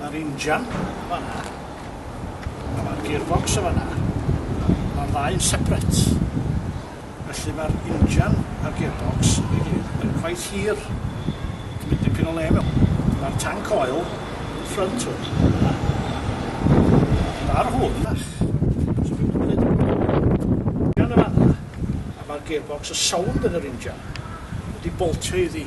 Ma'r injan yn fan 'na. A ma'r gearbox yn fan 'na. Ma'r ddau'n separate. Felly ma'r injan a'r gearbox efo'i gilydd yn cweit hir. Ti'n mynd dipyn o le mewn. Ma'r tanc oil yn y ffrynt hwn. Ond ar hwn, so fi'n mynd i ddeud injan yn fan 'na. A ma'r gearbox, y sownd yn yr injan, wedi boltio iddi.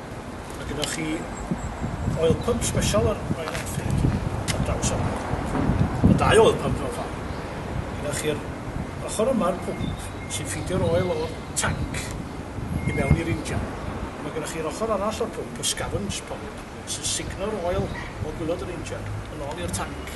Mae gynnoch chi oil pump sbesial ar Royal Enfield ar draws yma. Ma' dau oil pump mewn ffor. Gynnoch chi'r ochor yma'r pwmp sy'n ffidio'r oil o'r tanc i mewn i'r injan. Ma' gynnoch chi'r ochor arall o'r pwmp y scavenge pump sy'n sugno'r oil o gwilod yr injan yn ôl i'r tanc.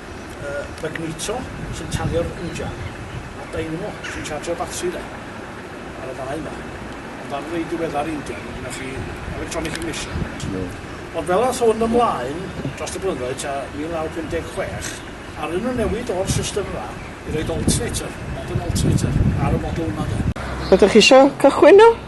y magneto sy'n tanio'r injan a'r dynamo sy'n charjio'r batri de, ar y ddau yma. Ond ar rei diweddar injan, mae gennych chi electronic ignition. No. Ond fel ath hwn ymlaen dros y blynyddoedd ta 1956, arnyn nhw newid o'r system yma i roed alternator, modern alternator, ar y model yma de. Ydych chi isio cychwyn nhw?